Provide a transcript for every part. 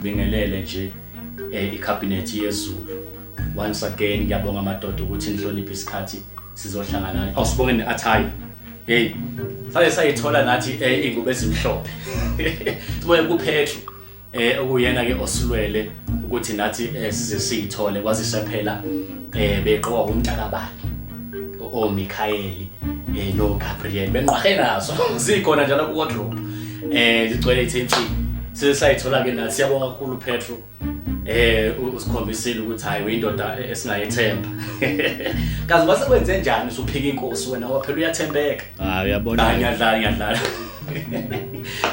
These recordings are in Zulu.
Bingelele nje eh ikhabhinethi yezulu once again ngiyabonga amadoda ukuthi nihloniphe isikhathi sizohlangana awusibonge neathayi hey sale sayithola nathi eh, ingubo ezimhlophe siboye kuphethu eh okuyena ke osilwele ukuthi nathi eh, size siyithole kwazise phela eh beqoka umntakabani o Mikhaeli eh no Gabriel benqwahe nazo zikhona njalo ku wardrobe eh ligcwele ithenthi size sayithola ke nathi siyabonga kakhulu Petro eh usikhombisile ukuthi hayi uyindoda e-, esingayethemba kazi kwase kwenze njani usuphika inkosi wena waphela uyathembeka ah uyabona ngiyadlala ngiyadlala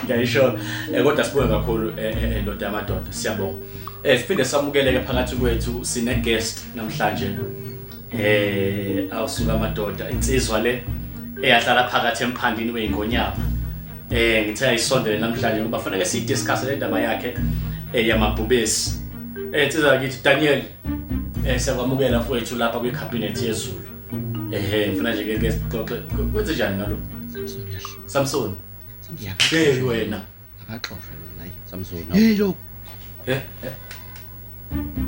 ngiyayisho eh, kodwa sibonge kakhulu eh, eh, eh ndoda yamadoda siyabonga eh siphinde samukeleke phakathi kwethu sine guest namhlanje eh awusuka amadoda insizwa le eyahlala phakathi emphandini weingonyama eh ngithe ayisondele namhlanje ngoba fanele si discuss le ndaba yakhe eh yamabhubesi eh insizwa kithi Daniel eh siyakwamukela mfowethu lapha kwi cabinet yezulu ehe ngifuna nje ke sixoxe kwenze njani ngalo Samson uyahlula Samson hey wena akaxoshwe lona ayi Samson hey lo he he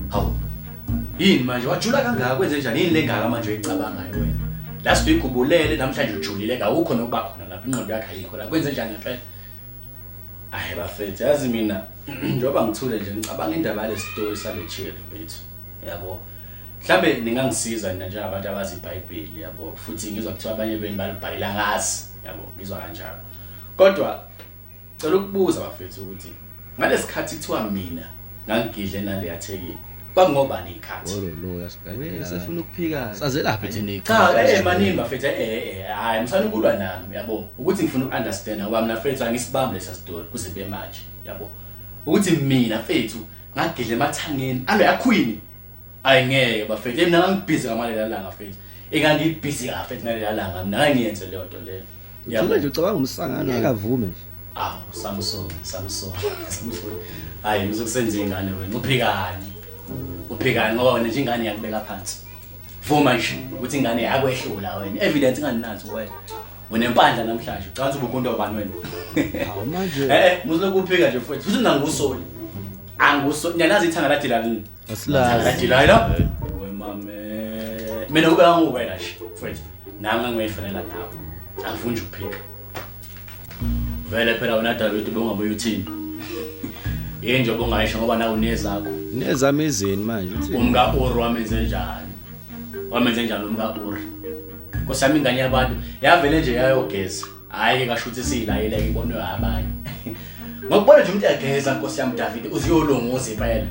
hawu yini manje wajula kangaka kwenze njani yini lengaka manje uyicabangayo wena last week ubulele namhlanje ujulile kawukho nokuba khona lapha inqondo yakhe ayikho la kwenze njani ngempela ayi bafethu yazi mina njengoba ngithule nje ngicabanga indaba yalesitori sale chili bethu yabo Mhlambe ningangisiza nina njengabantu abazi iBhayibheli yabo futhi ngizwa kuthiwa abanye benu balibhayila ngazi yabo ngizwa kanjalo. Kodwa cela ukubuza bafethu ukuthi ngalesikhathi kuthiwa mina ngangigidle naleya thekini kwakungobani ikhathi? Ololoya sibhedlela. Sefuna ukuphika. Sazelaphi thina Cha ikhathi? eh maningi bafethu eh eh eh, hayi msana ukulwa nami yabo ukuthi ngifuna ukunderstand ngoba mina fethu angisibambi lesa story kuze be manje yabo ukuthi mina fethu ngagidla emathangeni alo yakhwini Ay ngeke bafethu yena ngangibhizi ngamalela langa fethu. Engangibhizi ka fethu ngalela langa mina ngangiyenze leyo nto leyo. Ngicela nje ucabanga umsangano akavume nje. Aw Samson Samson Samson. Hayi uzokusenza ingane wena uphikani. Uphikani ngoba wena nje ingane yakubeka phansi. Vuma nje ukuthi ingane yakho ehlula wena. Evidence inganinathi wena. Unempandla namhlanje ucansa ubukunto obani wena. Hawu manje. Eh eh muzokuphika nje futhi. Futhi nangusoli. anguso niyalazi ithanga lajila lini asilazi lajila lo wemame mina kube anguwe la shi mfowethu nami ngangiyifanela nawe angifuni nje ukuphika vele phela wena David ubungabuye uthini yini nje obungayisho ngoba nawe unezakho nezami izini manje uthi umka Uru wamenze njani wamenze njani umka Uru Nkosi yami ingane yabantu yavele nje yayogeza Hayi ke kasho ukuthi siyilayela ibonwe abanye. Ngokubona nje umuntu egeza Nkosi yami David uziyolongoza impela.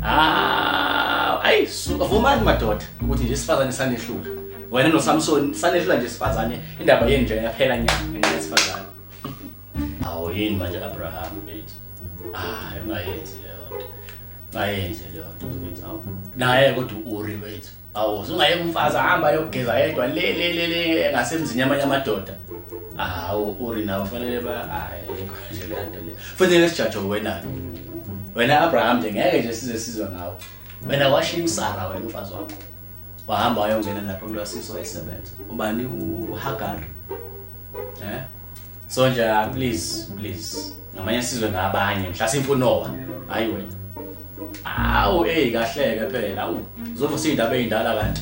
Ah, ayi suka vumani madoda ukuthi nje sifazane sanehlula. Wena no Samson sanehlula nje sifazane indaba yenu nje yaphela nyanga ngenxa sifazane. Awu yini manje Abraham bethu. Ah, ungayenzi leyo nto. Ungayenzi leyo nto bethu. Naye kodwa uRi wethu. Awu zungayeka umfazi ahamba ayogeza yedwa le le le le ngasemzini yamanye amadoda. Hawu uri nawe fanele ba hayi konje lento le. Futhi lesijajo wena. Wena Abraham nje ngeke nje size sizwe ngawe. Wena washiya uSara wena umfazi wakho. Wahamba wayongena lapho kulwasiso esebenza. Ubani uHagar? Eh? Sonja please please ngamanye sizwe ngabanye mhlasimpe uNoah hayi wena awu hey kahleke phela awu uzova sindaba ezindala kanti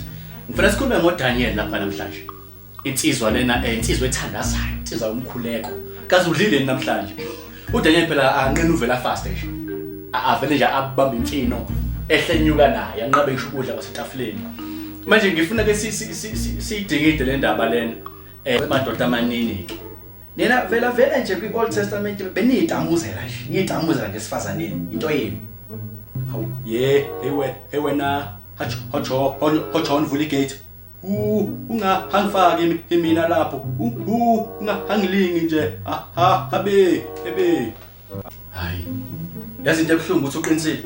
ngifuna sikhulume ngoDaniel lapha namhlanje insizwa lena eh, insizwa ethandazayo insizwa umkhuleko kaze udlile namhlanje uDaniel phela anqina uvela fast nje avele nje abamba imfino ehlenyuka naye anqabe ngisho ukudla kwasetafuleni manje ngifuna ke siyidingide le ndaba lena Eh madoda amanini ke. Nina vela vele nje kwi Old Testament beniyidamuzela nje. Niyidamuzela ngesifazaneni into yenu. Hawu ye hey we hey wena hacho hacho hacho nivula igate. U unga hangifaki imina lapho. U unga hangilingi nje. Ha ha habe ebe. Hayi. Yazi into ebuhlungu ukuthi uqinisile.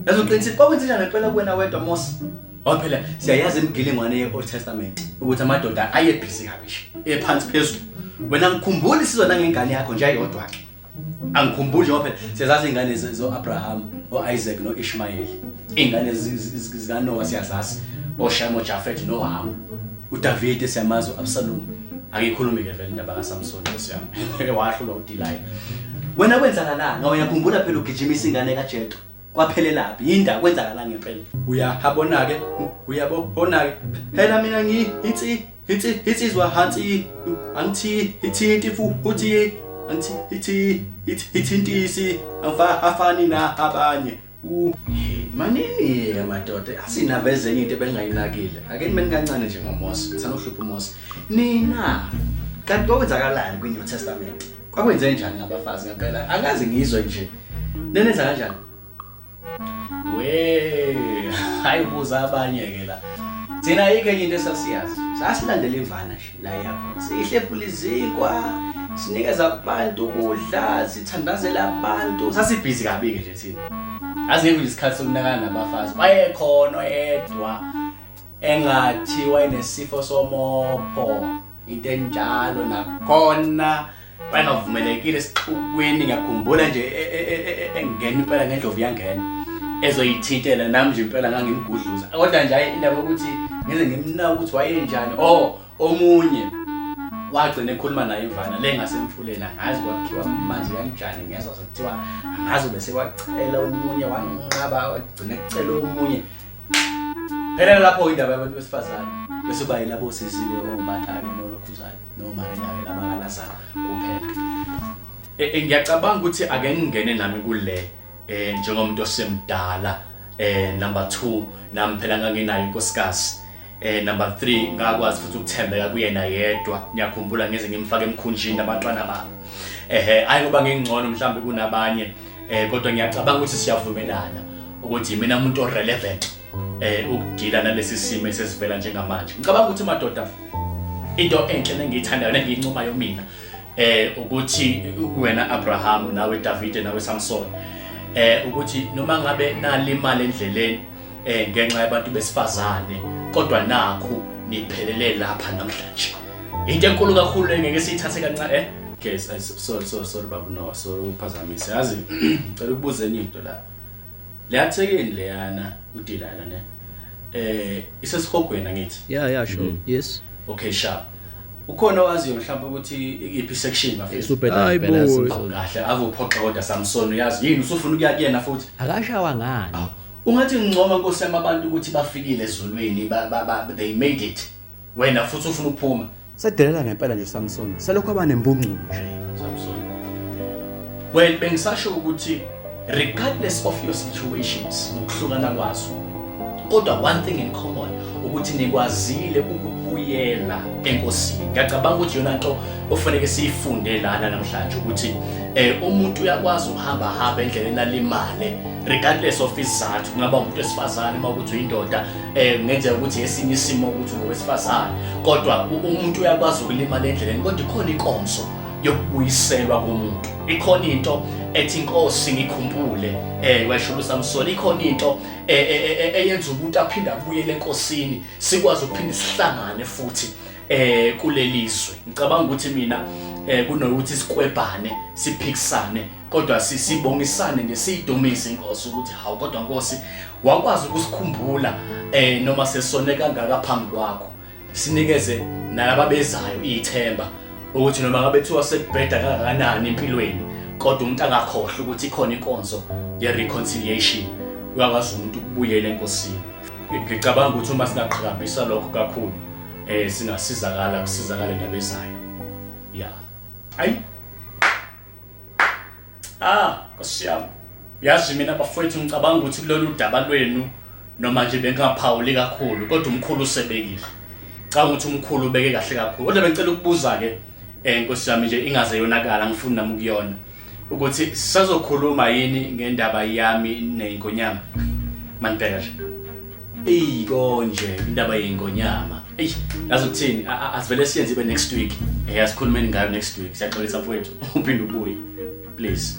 Yazi uqinisile kwakwenzenjani ngempela kuwena wedwa Mosi? Ngoba phela siyayazi imigilingwane ye-Old Testament ukuthi amadoda ayebhizi kabi nje, ephansi phezulu. Wena ngikhumbula isizwe nangengane yakho nje ayodwa ke. Angikhumbuli ngoba phela siyazazi izingane ze- zo-Abraham, o-Isaac no-Ishmayeli. Izingane zi- zi- zi- zikaNowa siyazazi, oShem, oJafet noHamu. uDavide siyamazi uAbsalom angikhulumi ke vele indaba kaSamson siyami wahlulwa uDelilah wena kwenzakalani awuyakhumbula phela ugijimisa ingane kaJethro kwaphelelaphi yinda kwenzakalani ngempela uyahabona ke uyabona ke phela mina ngi ithi ithi ithi izwa hansi angithi ithi ithi futhi angithi ithi ithi ithi intisi afani na abanye Manini-ke madoda asinaveze enye into ebengingayinakile ake nimeni kancane nje ngomosi sanohlupha umosi nina kanti kwakwenzakalani kwi-new testament kwakwenze njani ngabafazi ngempela angazi ngizwe nje nenenza kanjani we hayi ubuza abanye-ke la thina ayikho enye into esasiyazi sasilandela imvana nje Layapha sihlephula izinkwa, sinikeza abantu ukudla, sithandazela abantu. Sasibhizi kabi-ke nje thina. Asingekho nje isikhathi sokunakana nabafazi. Wayekhona oyedwa engathi wayenesifo somopho, into enjalo nakhona. bayengavumelekile esixukwini ngiyakhumbula nje e, e, e, engena impela ngendlovu yangena ezoyithintela nami nje impela ngangimgudluza kodwa nje indaba yokuthi ngize ngimnaka ukuthi wayenjani o oh, omunye wagcina ekhuluma naye imvana le ngasemfuleni angazi kwakhiwa amanzi kanjani ngezwa sekuthiwa angazi bese wacela omunye wanqaba wagcina ecela omunye phela lapho indaba yabantu besifazane bese bayilabo sisiwe omatake nolokhuzane noma endaweni abakalazana kuphela eh, eh, ngiyacabanga ukuthi ake ngingene nami kule eh njengomuntu osemdala eh number 2 nami phela nganginayo inkosikazi eh number 3 ngakwazi futhi ukuthembeka kuyena yedwa ngiyakhumbula ngeze ngimfake emkhunjini abantwana bami ehe ayi kuba ngingcono mhlawumbe kunabanye eh kodwa ngiyacabanga ukuthi siyavumelana ukuthi mina umuntu orelevant eh ukudila nalesi simo esesivela njengamanje ngicabanga ukuthi madoda into enhle nengiyithandayo nengiyincomayo mina eh ukuthi wena Abraham nawe David nawe Samson eh ukuthi noma ngabe nalimali endleleni eh ngenxa yabantu besifazane kodwa nakho niphelele lapha namhlanje into enkulu kakhulu engeke siyithathe kancane eh guys sorry sorry sorry babu no sorry uphazamise yazi ngicela ukubuza enye into la Leya thekeni leyana udilana ne eh isesihogweni angithi. Yeah yeah sure. Mm. Yes. Okay sharp. Ukhona owaziyo mhlawumbe ukuthi iyiphi section bafethu. Super Hayi bo. Kahle ave uphoxa kodwa Samson uyazi yini usufuna ukuya kuyena futhi. Akashawa ngani? Ah, ungathi ngcoma nkosi yamabantu ukuthi bafikile ezulwini ba they made it. Wena futhi ufuna ukuphuma. Sedelela ngempela nje Samson. Selokhu abanembungcu nje. Samson. Well, bengisasho ukuthi regardless of your situations nokuhlukana kwazo kodwa one thing in common ukuthi nikwazile ukubuyela enkosini ngiyacabanga ukuthi yona nto ofanele siyifunde lana namhlanje ukuthi um umuntu uyakwazi ukuhamba hamba endleleni alimale regardless of isizathu kungaba umuntu wesifazane uma ukuthi uyindoda eh kungenzeka ukuthi esinye isimo ukuthi ngowesifazane kodwa umuntu uyakwazi ukulimala endleleni kodwa ikhona inkonzo yokubuyiselwa komuntu ikhona into ethi inkosi ngikhumbule eh washulu samsoni ikhona into e, e, e, eyenza umuntu aphinde abuyele enkosini sikwazi ukuphinde sihlangane futhi eh kulelizwe ngicabanga ukuthi mina eh kunokuthi sikwebhane siphikisane kodwa sibongisane nje siyidumise inkosi ukuthi hawu kodwa nkosi wakwazi ukusikhumbula eh noma sesone kangaka phambi kwakho sinikeze nalaba bezayo ithemba ukuthi noma ngabe thiwa sekubheda kangakanani empilweni kodwa umuntu angakhohlwa ukuthi ikhona inkonzo ye reconciliation uyakwazi umuntu ukubuyela enkosini ngicabanga ukuthi uma singaqhakambisa lokho kakhulu eh singasizakala kusizakale nabezayo yeah ayi ah kosiyami yazi mina bafowethu ngicabanga ukuthi kulolu daba lwenu noma nje bengingaphawuli kakhulu kodwa umkhulu usebekile canga ukuthi umkhulu ubeke kahle kakhulu kodwa bengicela ukubuza-ke um nkosi yami nje ingaze yonakala ngifuni nami ukuyona ukuthi sisazokhuluma yini ngendaba yami neyingonyama manibheka nje Eyi konje indaba yengonyama. Eish, yazi ukuthini? A- a- Asivele siyenze ibe next week. Eh asikhulumeni ngayo next week. Siyaxolisa mfowethu. Uphinde ubuye. Please.